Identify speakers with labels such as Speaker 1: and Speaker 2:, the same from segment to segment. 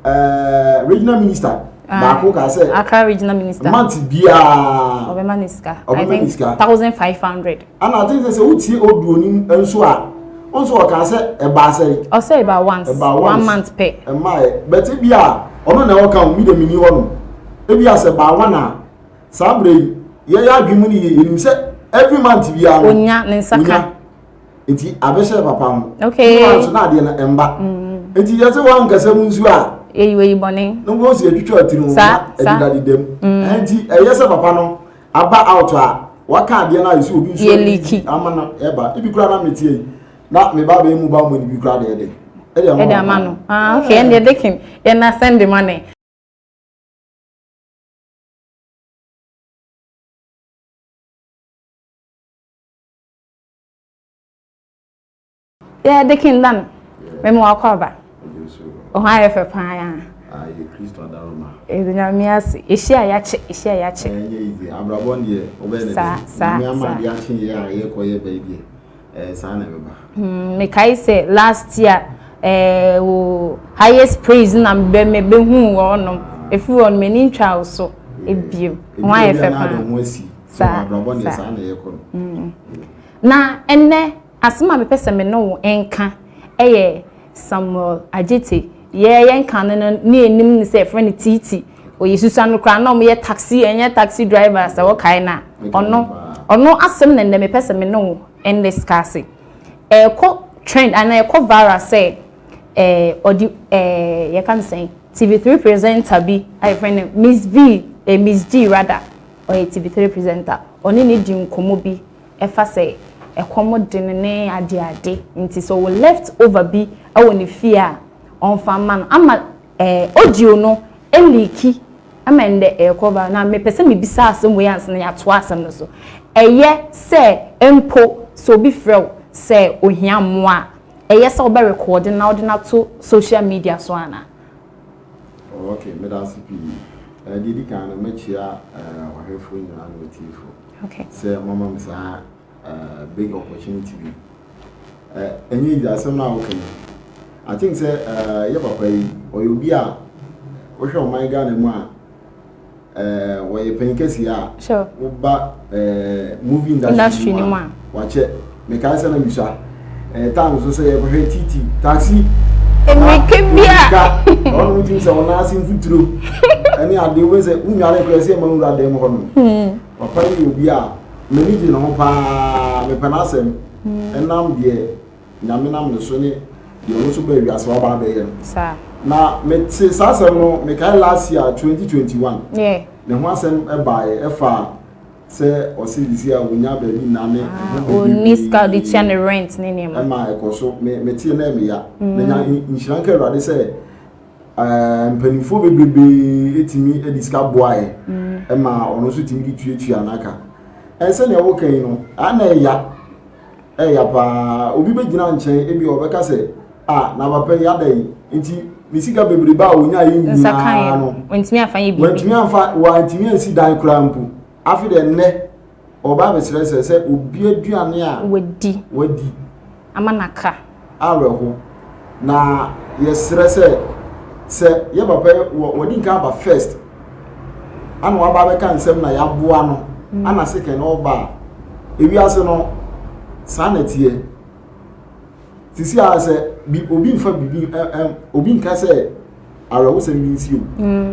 Speaker 1: ɛɛ regional minister ah, baako kaa sɛ akra regional minister month biara ɔbɛma ne sika ɔbɛma ne sika thousand five hundred ɛna ati sɛ sɛ wotie oduo ni nso a nso ɔkaa sɛ ɛbaa sɛ ɔsɛ ɛbaa once ɛbaa once one month pɛ ɛmaa yɛ bɛti bi a ɔno na ɔka omi dɛm ni hɔ no ebi asɛ ɛbaa one a saa abirɛ yi yɛyɛ adwuma ni yɛ yɛnim sɛ every month biara no onya ne nsa ka. nti abɛhyɛ papa ho okay wa nso na adeɛ no ɛmba mm. nti yɛsɛ wa nkasa mu nsuo a eyi oyi bɔne na wɔn si atwitwa ti no na ɛdedade dɛm mm. nti ɛyɛ sɛ papa no aba out a waka adeɛ no a yɛsɛ obi nsuo yɛliki ama no ɛba ebi kura na mete yi na me ba bɛyɛ mu ba mu ebi kura deɛ de ɛde ama no ah okay ɛnna ɛde kim yɛn na send the money. yɛ de kin da no mɛma wakɔ aba ɔho ayɛ fɛ paa ya ayɛ kristo adaroma ɛdi nyame ase ɛhyia a yɛakye ɛhyia a yɛakye ɛnyɛ izi abrabɔ deɛ wobɛyɛ ne deɛ ama adeɛ akye yɛ a yɛkɔ yɛ bɛyi deɛ ɛɛ saa na ɛbɛba hmm, mekae sɛ last year ɛɛ wo highest praise na bɛ mɛ bɛhu wɔnom ɛfiri wɔn m'ani ntwa wo so ebiem ho ayɛ fɛ paa Saa, saa. Abrabɔ deɛ saa na ɛyɛ kɔ no. Mm. Na ɛnɛ asɛm a mepɛ sɛ me ne wo nka ɛyɛ Samuel Agyete. Yɛ yɛ nka no no ne anim ne sɛ ɛfrɛ no Titi. Ɔyɛ susua no koraa na ɔmo yɛ taxi ɛnyɛ taxi driver sɛ wɔkae na ɔno ɔno asɛm na ɛnɛ mepɛ sɛ me ne wo ɛnɛ sika ase. Ɛkɔ trend anaa ɛkɔ viral sɛ ɛɛ ɔde ɛɛ yɛka no sɛn TV3 presenter bi a yɛfrɛ no Miss V ɛɛ Miss G rather. Ɔyɛ TV3 presenter. Ɔne no di nkɔmmɔ bi ɛfa sɛ ɛkɔm de no ne ade ade nti sɛ ɔwɔ left over bi ɛwɔ ne fie a ɔnfa ma no ama ɛɛ audio no ɛliiki ɛma ɛndɛ ɛɛkɔ viral na mepɛ sɛ mebisa asɛm wei ansa na yɛatoa asɛm no so ɛyɛ sɛ mpo sɛ obi frɛ wo sɛ ohia mmoa a ɛyɛ sɛ wobɛ record no na wode no ato social media so anaa? Oh okay, meda ase pii. Eh, deɛ ɛdi kan no, mɛkyia eh, ɔhwɛfoɔ nyinaa ne ɔtiefo. Okay. Sɛ mama me saa eh, big opportunity bi. Eh, ɛnyɛ easy asɛm no a woka yi. I think sɛ eh, yɛ papa yi, ɔyɛ obi a wohwɛ ɔman Ghana mu a, wɔyɛ panyin kɛseɛ a woba movie industry no mu a wakyɛ mekae sɛ na mesua time so sɛ yɛkɔhwɛ titi taxi mmirika bia ɔno wotim sɛ ɔno ase mfuturo ɛne ade wobɛ sɛ wonware korɛ sɛ ɛma wura dɛm hɔ no hmm. papa yi obi a m'ani gye ne ho paa mepɛ no asɛm hmm. ɛnam deɛ Nyame nam ne so ne deɛ ɔno nso baa wiase waba abɛyɛ no. Saa. Na mete saa asɛm no mekae last year twenty twenty one. Yɛ. Ne ho asɛm ɛbaeɛ ɛfa sɛ ɔsi de si a wonya baabi nna ne ɛho ah, biribi. Onni sika de tua ne rent ne nneɛma. Ɛma ɛkɔ so me mete na ɛmɛ ya. Mm. Menya nhyira nka awurade sɛ ɛɛ eh, mpanimfoɔ bebrebe etimi ɛde sika boaeɛ mm. ɛma ɔno nso timi de tuatua n'aka. Ɛnsɛ nea wɔka yi no ana ɛya. Ɛya paa obi bɛgyina nkyɛn ebi ɔbɛka sɛ a na papa yi ada yi nti ne sika bebrebe a ɔnya yi nyinaa no wantumi afa yɛ biribi wantumi ansi dan koraa mpo afi dɛ nnɛ ɔba abɛsrɛ sɛ sɛ obi aduane a wadi wadi ama naka awerɛho, na yɛsrɛ sɛ, sɛ yɛ papa yi wɔ wɔde nka aba first, ana waba abɛka nsɛm na yɛaboa no, mm. ana second na ɔba a, ewiase no saa na teɛ. Sisi a sɛ obi nfa biribi obi nka sɛ awerɛhosɛm bi nsi o.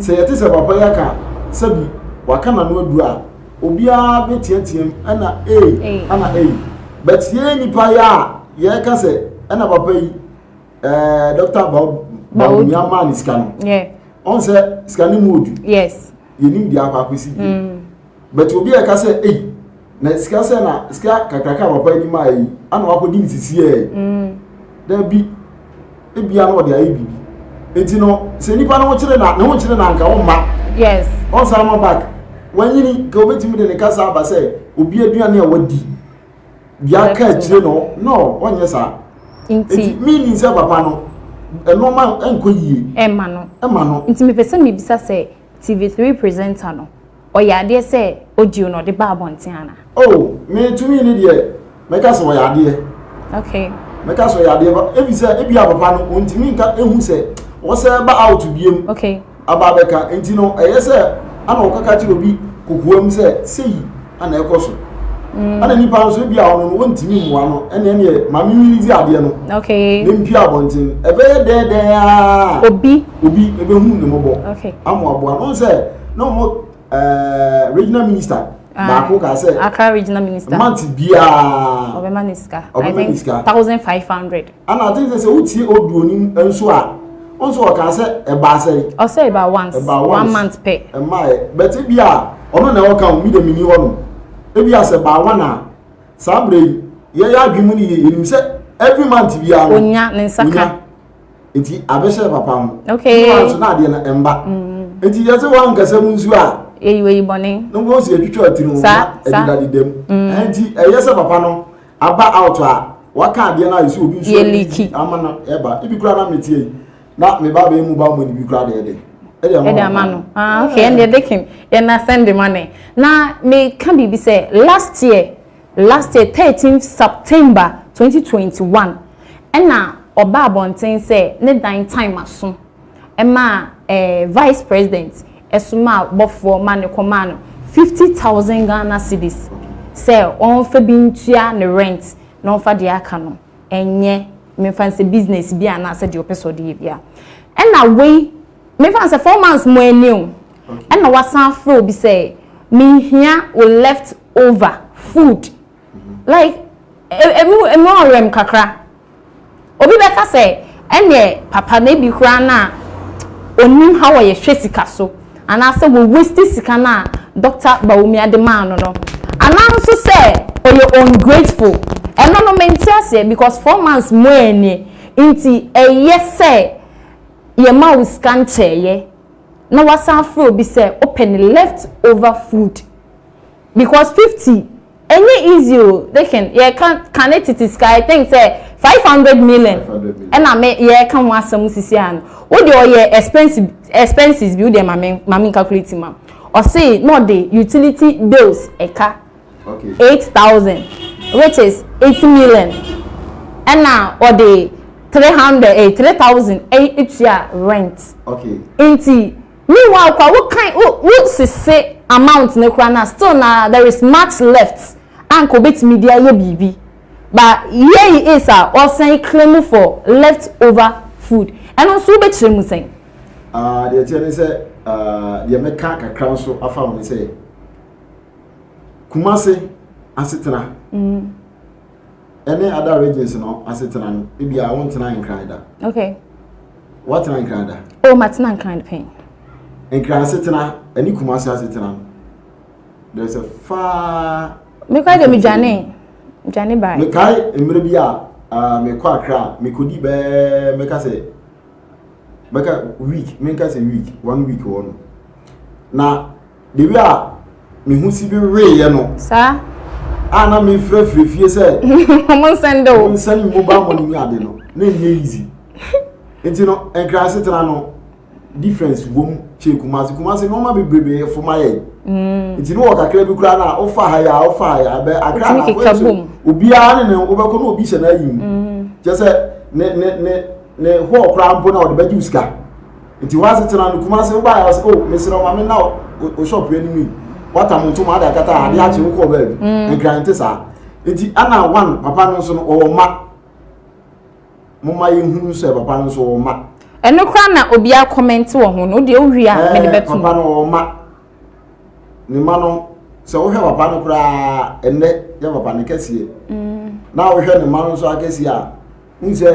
Speaker 1: Sɛ yɛte sɛ papa yi aka sɛbi waka n'ano aduru a, obiara bɛteateam ɛna ei ɛna ei. But yɛn nnipa yi a yɛka sɛ ɛna papa yi ɛɛ Dr. Bawumia maa ne sika no, ɔn sɛ sika no mu odu. Yɛnim deɛ akɔ akɔsi bi. But obi a ɛka sɛ ei na sika sɛ na sika kakraka a papa yi maa yi ana wakɔdi ne sisi yɛ mm. dabi ebia na ɔde ayɛ biribi eti no sɛ nipa no kyerɛ na ne ho kyerɛ na nka ɔmma yes ɔnsan ma back wanyini ka obetumi de ne kasa aba sɛ obi aduane a wadi bia ka akyire no no ɔnyɛ saa nti mi ni sɛ papa no ɛnɔɔma nkɔ yie ɛma no ɛma no nti mepɛ sɛ mebisa sɛ tv3 presenter no Ɔyɛ adeɛ sɛ audio na ɔde ba abɔnten anaa? Oh me to me ne deɛ mɛka sɛ ɔyɛ adeɛ. Okay. Mɛka sɛ ɔyɛ adeɛ ba ebi sɛ ebi a papa no ɔntumi nka ehu sɛ ɔsɛ ba out biem. Okay. Aba abɛka nti no ɛyɛ sɛ ana ɔkaka kyerɛ obi kokoam sɛ seyi ana ɛkɔ so. Mm. Ana nipa nso ebi a ɔno no ɔntumi mmoa no ɛne ɛne maame mi di adeɛ no. Okay. Ne mpia abɔnten ɛbɛyɛ dɛɛdɛɛ aa. Obi. Obi ɛbɛhu ne mɔbɔ. Okay. Amoaboa no sɛ. na ɔmo ɛɛ regional minister ah, baako kaa sɛ akra regional minister month biara ɔbɛma ne sika ɔbɛma ne sika thousand five hundred ɛna ati sɛ sɛ wotie oduo ni nso a nso ɔka sɛ ɛbaa sɛ ɔsɛ ɛbaa once ɛbaa once one month pɛ ɛmaa yɛ bɛti bi a ɔno na ɔka omi dɛm ni hɔ no ebi asɛ ɛbaa one a saa abirɛ yi yɛyɛ adwuma ni yɛ yɛnim sɛ every month biara onya ne nsa ka. nti abɛhyɛ papa ho okay wa nso na adeɛ no ɛmba mm. nti yɛsɛ wa nkasa mu nsuo a eyi oyi bɔne na wɔn si atwitwa ti no na ɛdeda deda mu mm. nti ɛyɛ sɛ papa no aba out a waka adeɛ no a yɛsɛ obi nsuo yɛliki ama no ɛba ebi kura na mete yi na me ba bɛyɛ mu ba mu ebi kura deɛ de ɛde ama no ah okay ɛnna ɛde kim yɛn na send money na meka biribi sɛ last year. Last year thirteenth September twenty twenty one ɛna ɔbaa abɔnten sɛ ne dan time aso ɛmaa ɛɛ Vice President ɛsomaa bɔfoɔ ma no kɔmaa no fifty thousand Ghana cedis sɛ ɔnfa bi ntua ne rent na ɔnfa deɛ aka no ɛnyɛ menfa nsɛ business bi anaa sɛ deɛ ɔpɛ sɛ ɔde yɛ bia ɛna wei menfa nsɛ four months mu ani o ɛna wasan afrɛ obi sɛ menhia wo left over food like ɛmu e, ɛmu e, ɔrɛm kakra obi bɛka sɛ ɛnneɛ papa no ebi koraa no a onim ha wɔ yɛhwɛ sika so anaasɛ wɔ waste sika no a dɔkta bawumia de maa no no anaa nso sɛ ɔyɛ ungrateful ɛno no mente aseɛ because four months mu ɛnie nti ɛyɛ sɛ yɛma wo sika nkyɛɛyɛ na wasan afrɛ obi sɛ open left over food Because fifty ɛnyɛ easy o dekin yɛka kane tete sika I think sɛ five hundred million ɛna me yɛka ho asɛm sisi a no wodeɛ ɔyɛ expensive expenses bi wodeɛ mame mame nkakuleti ma ɔse na ɔde utility bills ɛka eight thousand which is eight million ɛna ɔde three hundred eh three thousand ɛtua rent nti. Meanwhile koraa wo kan wo wo sese amount no koraa no a still na there is much left a nka obetumi de ayɛ biribi but here he is a ɔsan claim for left over food ɛno nso wo bɛkyerɛ mu sɛn? Ah deɛ ɛteɛ ne sɛ ah deɛ mɛka kakra nso afa ho ne sɛ Kumase asetena. Mm. ɛne other regions no asetena no ebi a wontena nkran da okay woatena nkran da o oh, matena nkran pɛn nkran asetena ɛne kumase asetena no there is a far mekɔ de medwane dwane bae mekae mmerɛ bi a uh, mekɔ akra a mekɔdi bɛɛ mɛka sɛ bɛka week menka sɛ week one week wɔ no na Baabi a me ho si bi weeɛ no. Saa. A na mefirafira fie sɛ. Ɔmo nsɛn dɛ o. Ɔmo nsɛn mu ba mo ne ade no na nyɛ easy. Nti no nkran asetena no difference wom kyɛ kumase kumase nneɛma bebrebe fo ma yɛ. Mm. Nti no wɔ kakra bi koraa na wofa ha ya wofa ha ya bɛ akra na keka bom. Obiara ne ne wobɛkɔ na obi hyɛ na ayi mu. Mm. Kyɛ sɛ ne ne ne ne hɔ koraa mpo na ɔde bɛgye sika. Nti wɔase tena no Kumase wo baayɛ ɔse oh mesrɛ wo ma me nna o shop yɛ anim yi wata mo ntoma ade akata ha ade akye wo kɔɔ baabi mm. nkran nte saa nti ana one papa no nso no ɔwɔ mma mo ma yɛ hunu sɛ papa no nso ɔwɔ mma ɛno kora na obi akɔmɛnte wɔ ho no deɛ wowie a mede eh, bɛto papa no ɔwɔ mma ne mma no sɛ wohwɛ papa no koraa ɛnnɛ yɛ papa no kɛseɛ mm. na wohwɛ ne mma no nso akɛseɛ a n sɛ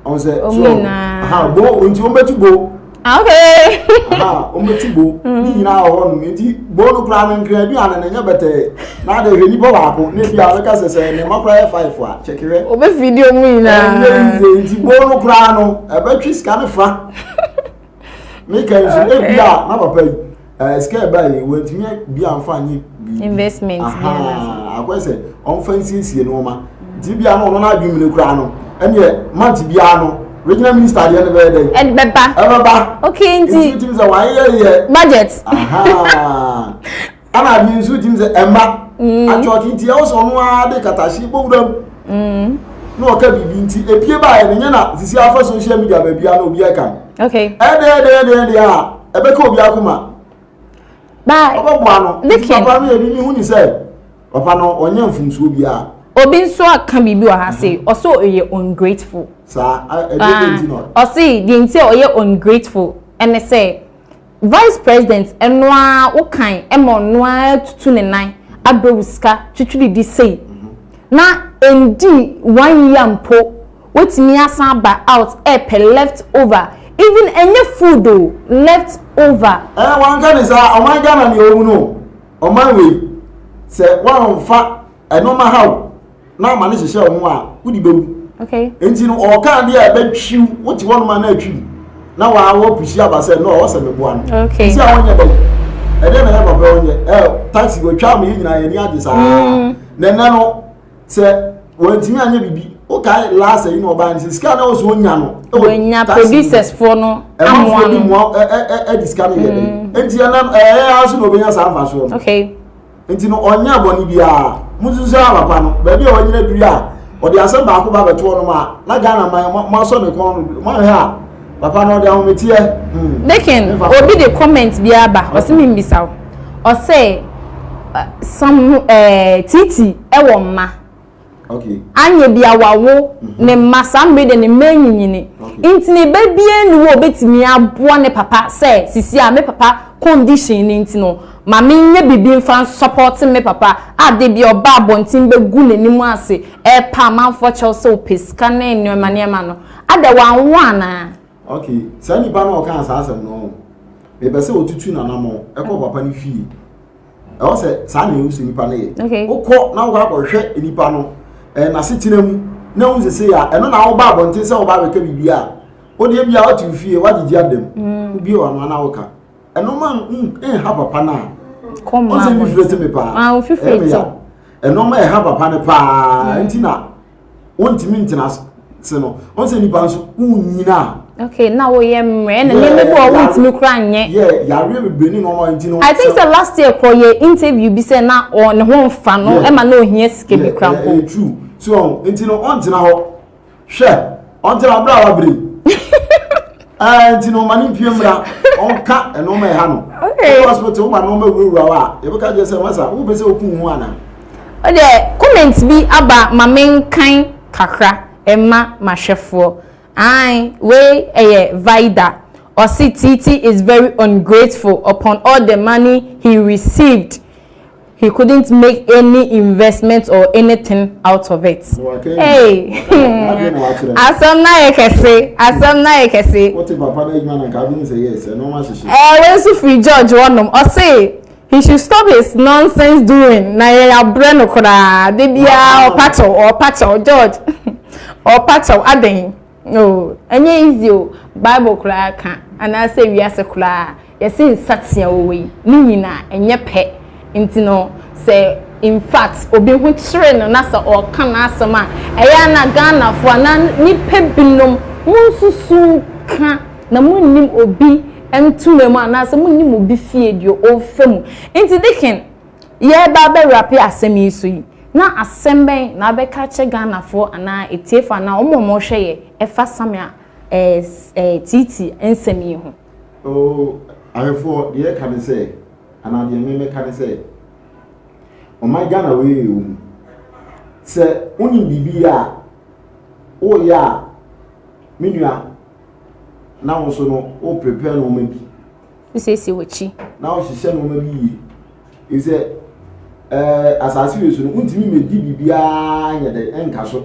Speaker 1: ɔn sɛ so ha bo nti wɔn bɛtu bo ah, okay ha wɔn bɛtu bo mm. ne nyinaa wɔ hɔnom nti bo no koraa no nkira aduane no nyɛ bɛtɛɛ na ade hwɛ nipa baako na ebi a ɔbɛka sɛ sɛ ne mma koraa yɛ five a kyɛkɛrɛ ɔbɛ video mu nyinaa ɛnyɛ nti bo no koraa no ɛbɛtwe sika no fa. me ka nso ne bia na papa yi ɛɛ sika ɛba yi wɔntumi bi anfa nye biribi investment ahaa akɔyɛ sɛ ɔnfa nsiesie nneɛma nti bia no ɔno n'adwene mu no kura no ɛneɛ mant biara no regional minister adeɛ no bɛyɛ dɛ ɛbɛba ɛbɛba okay nti nti sɛ wɔayɛ yɛ budget ahaa. ɛna ade nso tim sɛ ɛma mm. atwɔte nti ɛwɔ sɛ ɔno ara de katahye bɔwura mu mm. na ɔka biribi nti epie baeɛ no nyɛ na sisi afa social media baabi a na obi ɛka no ɛdɛ ɛdɛ ɛdɛ ɛdɛ a ɛbɛka obi akoma ɔbɛboa no nti papa no yɛ bi ne ho ni sɛ papa no ɔnyɛ mfomsoɔ biara obi nso aka biribi wɔ ha se mhm. ɔsɛ ɔyɛ ungrateful saa ɛdɛ ɛdɛ nti na ɔse deɛ nti a ɔyɛ ungrateful ɛne sɛ Vice president ɛno ara wo kan ɛma ɔno ara tutu ne nan abrɛ wo sika twitwirididi sei na ɛndi one year mpo watumi asan aba out ɛɛpɛ left over even ɛnyɛ food o left over. Ɛɛ wanka ne saa ɔman Ghana nea ɔhu no ɔman wei sɛ wanfa ɛno ma ha o. na ama ne hyehyɛ wo ho a wode bɛwu okay. nti no ɔka adeɛ a ɛbɛtwiw wote hɔ noma no atwiw na waa wɔpusi aba sɛ no ɔwɔ sɛ meboa no okay. nti a wɔnyɛ dɛn ɛdeɛ na yɛ papa wɔnyɛ ɛ taxi wɔtwa me yɛ nyinaa yɛni agye saa mm. na ɛnɛ no sɛ wɔntumi anyɛ biribi wokae last yi na ɔbaa no sɛ sika na ɔsɛ ɔnya no wɔnya producers foɔ no amoa no ɛdi sika no yɛ dɛn nti ɛnɛ ɛyɛ ara so na ɔbɛnya saa mfasoɔ no okay. Nti no ɔnyɛ abɔne biara. Mususu sɛ papa no baabi a wanyina duru a ɔde asɛm baako ba bɛto ɔnom a na Ghana man mo asɔ ne kɔn no mo ahwɛ a papa no ɔde ahometeɛ. Hmm. Dekin obi de comment bi aba ɔsɛ mi mbisa o ɔsɛ sam ɛɛ titi ɛwɔ mma. Anyɛ bi a wawo ne mma saa mmere deɛ ne mma anyinyini nti ne ba biara nni hɔ a obetumi aboa ne papa sɛ sisi a me papa condition no nti no ma menyɛ biribi mfa nsɔpɔte me papa a da biara ɔba abɔnten bɛgu n'anim ase repa amanfoɔ kyɛw sɛ ɔpɛ sika ne nneɛma nneɛma no ada wanwo anaa? Ok saa nipa no a ɔkaa saa asɛm no mepɛ sɛ ɔtutu n'anammɔn kɔ papa no fie. ɛwɔ sɛ saa na ehu sɛ nipa no yɛ wokɔ na wokɔ akɔhwɛ nipa no ɛɛ n'asetena mu na ehu sɛ sɛ yɛ a ɛno na awoba abɔnten sɛ ɔba abɛka biribi a wodeɛ bi a wote wo fie woagyegye adam mm. wobie wano ana woka ɛno ma nha papa no a ɔsɛ mfifire te me paa ɛmeya ɛno ma ɛha papa no paa mm. nti na wontumi ntena ase no wɔn sɛ nipa nso wonyina. okay na woyɛ mmerɛ na nneɛma bi wɔ wontumi kora nyɛ. yɛ yareɛ bebree ne nneɛma nti no. i think sɛ last year kɔ yɛ interview bi sɛ na ɔne ho nfa no ɛma na ohia sika bi kora mpo. ɛyɛ true so nti no ɔntena hɔ hwɛ ɔntena abira wa bere. ɛɛ nti na ɔma ne mpie mmira ɔnka ɛnɔɔma ɛha no ɔkɔ hospital ɔma nɔɔma wurawura hɔ a yɛbɛka kyerɛ sɛ masa wopɛ sɛ oku ho ana. ɔdɛ comment bi aba ma menkan kakra ɛma mahwɛfoɔ ae wei ɛyɛ vida ɔse titi is very ungrateful upon all the money he received. He couldn't make any investment or anything out of it. Hey! Asɛm no ayɛ kɛse. Asɛm no ayɛ kɛse. Wote papa no adwuma no nka abɛhu sɛ yes, ɛno ma hyehye. Ɛɛ, wei nso firi George wɔnom. Ɔse, he should stop his nonsense doing. Na yɛn abrɛ no koraa. Da biara ɔpa kyɛw, ɔpa kyɛw. George, ɔpa kyɛw. Adɛn? Oh ɛnyɛ easy o, bible koraa ka anaasɛ wiase koraa yɛse nsatea wɔ wei ne nyina ɛnyɛ pɛ nti no sɛ infact obi ho kyere no na sɛ ɔɔka n'asɛm a ɛyɛ a na Ghanafoɔ anaa nnipa binom monsusu nka na monnim obi ntoma mu anaasɛ monnim obi fie deɛ ɔɔfa mu nti deken yɛreba abɛwurape asɛm yi so yi, na asɛm bɛn na abɛka akyerɛ Ghanafoɔ anaa atiefoɔ anaa wɔn a wɔrehwɛ yɛ ɛfa Samia ɛɛ Tiiti nsɛm yi ho? Oo, ahwɛfoɔ, deɛ ɛka ne sɛ, anaa deɛ me mɛka ne sɛ, ɔman Ghana wei yɛ wɔn mu. Sɛ wonim biribi yɛ a, woyɛ a, me nua, na wo nso no, wo prepare nneɛma bi wosiesie w'akyi. na wohyehyɛ nneɛma bi yie ɛfiri sɛ ɛɛ asase wei so no wontumi mmɛdi biribiara nyɛ dɛ ɛnka so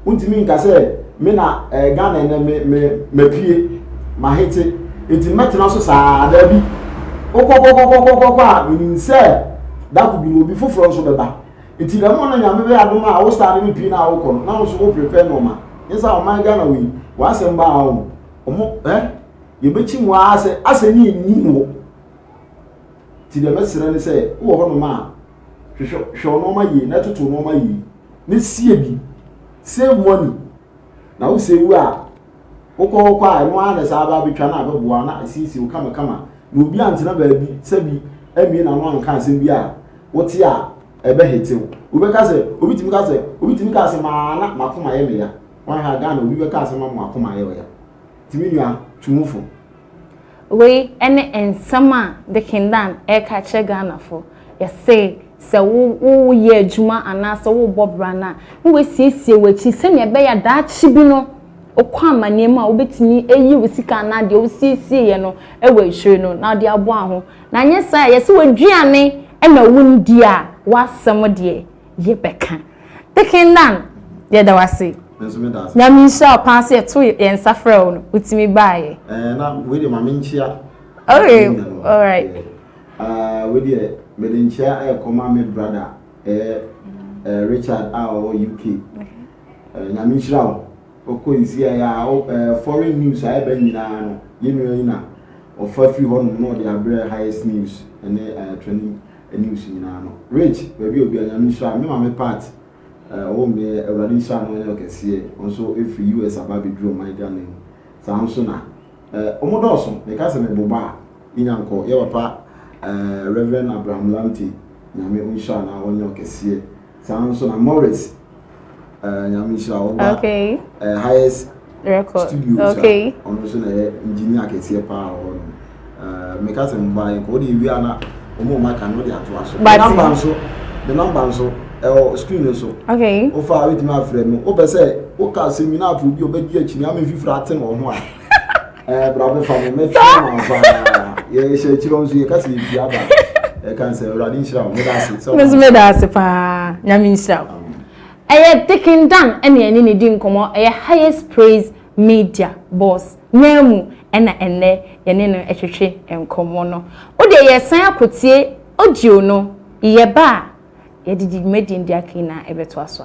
Speaker 1: wontumi nka sɛ me na ɛɛ ghana ɛnɛ me me mapie mahete nti mɛtena so saa daabi wokɔkɔkɔkɔkɔkɔ a menim sɛ dako bi no obi foforɔ nso bɛba nti dɛm na nyame bɛyɛ adom a wo saa no bɛpie no a wokɔ no na wo nso wo prepare nneɛma nyɛ sɛ ɔman ghana wei wɔasɛm baa wɔn ɔmo eh Yɛbɛkyi mu ara sɛ asɛ ne nnim hɔ. Nti deɛ mɛsrɛ ne sɛ wowɔ hɔnom a, hwehwɛ hwɛ wo nnoɔma yie na toto wo nnoɔma yie na sie bi. Save money. Na wo save a, wokɔ hɔ kɔ a ɛno ara na ɛsan aba abɛtwa na abɛboa wo na asiesie wo kama kama. Na obi antena baabi sɛ bi ammue n'ano anka asɛm bi a wote a ɛbɛhete wo. Wobɛka sɛ, obi tumi ka sɛ, obi tumi ka asɛm ara na m'akoma yɛ me ya. Woanhwɛ a Ghana obi bɛka asɛm ama w'akoma ayɛ wo ya. Ti me nua, tu ho fo. Wei ne nsɛm a Dikin Dan reka kyerɛ Ghanafo. Yɛse sɛ woyɛ adwuma anaasɛ wobɔ bra no a, na woasiesie w'akyi sɛnea ɛbɛyɛ a daakye bi no wokɔ amanneɛ mu a wobɛtumi ayi wo sika anaa deɛ wosiesieɛ no wɔ akyire no na wode aboa wo ho. Na anyɛ saa a, yɛse w'aduane na wonndi a, w'asɛm deɛ yɛbɛka. Pekin Nan, yɛda wo ase. Nso me da ase. Nyame nhyira wo paa sɛ yɛto yɛn nsa frɛ wo no, wotumi baeɛ. Ɛɛ na wei deɛ ma me nkyea. Okay, all right. Uh, wei deɛ mede nkyea ɛrekɔma me brada ɛyɛ uh, Richard a ɔwɔ UK. Uh, Nyame nhyira wo. Ɔkɔ nsi a yɛ uh, foreign news a ɛbɛ nyinaa no yɛnua yi na ɔfa firi hɔ nom na ɔde abrɛ highest news ɛne uh, training anim so nyinaa no. Rich, baabi a obiara, Nyame nhyira no. Me maame Pat, eh, ɔwɔ mu nnɛ, Awurade nhyira no, ɔnyɛ ɔkɛseɛ, ɔno nso firi US aba abɛduru ɔman Ghana mu, saa ara nso na, eh, wɔn dɔɔso. Meka sɛ meboba a, me nya nkɔ. Yɛ papa, eh, Rev. Abraham Lamptey, Nyame ɔnhyira no na ɔnyɛ ɔkɛseɛ. saa nso na Morris uh, nyame nhyira ɔba okay. uh, highest record studio okay. ɔno nso na ɛyɛ engineer kɛseɛ paa wɔ hɔ no uh, meka sɛ mba yɛnkɔ wode ɛwie a na ɔma ɔma ka no wode atoa so me namba nso me namba nso ɛwɔ screen no so okay. wofa wobɛtumi afrɛ me wopɛ sɛ woka seminar fo bi ɔbɛgye akyini ama mfifiri ate wɔ ho a bra bɛfa me mɛtwerɛ ma paa yɛhyɛ akyirɛ nso yɛka sɛ yɛpie aba ɛka sɛ awurade nhyira wo meda ase sɛ meso meda ase paa nyame nhyira wo ɛyɛ dikin dan ɛne ɛne ne di nkɔmmɔ ɛyɛ highest praise media boss naa mu ɛna ɛnnɛ yɛne no ɛtwetwe nkɔmmɔ no wode yɛsan akotie audio no yɛba a yɛde di dwumadi ndi aka nyinaa ɛbɛto aso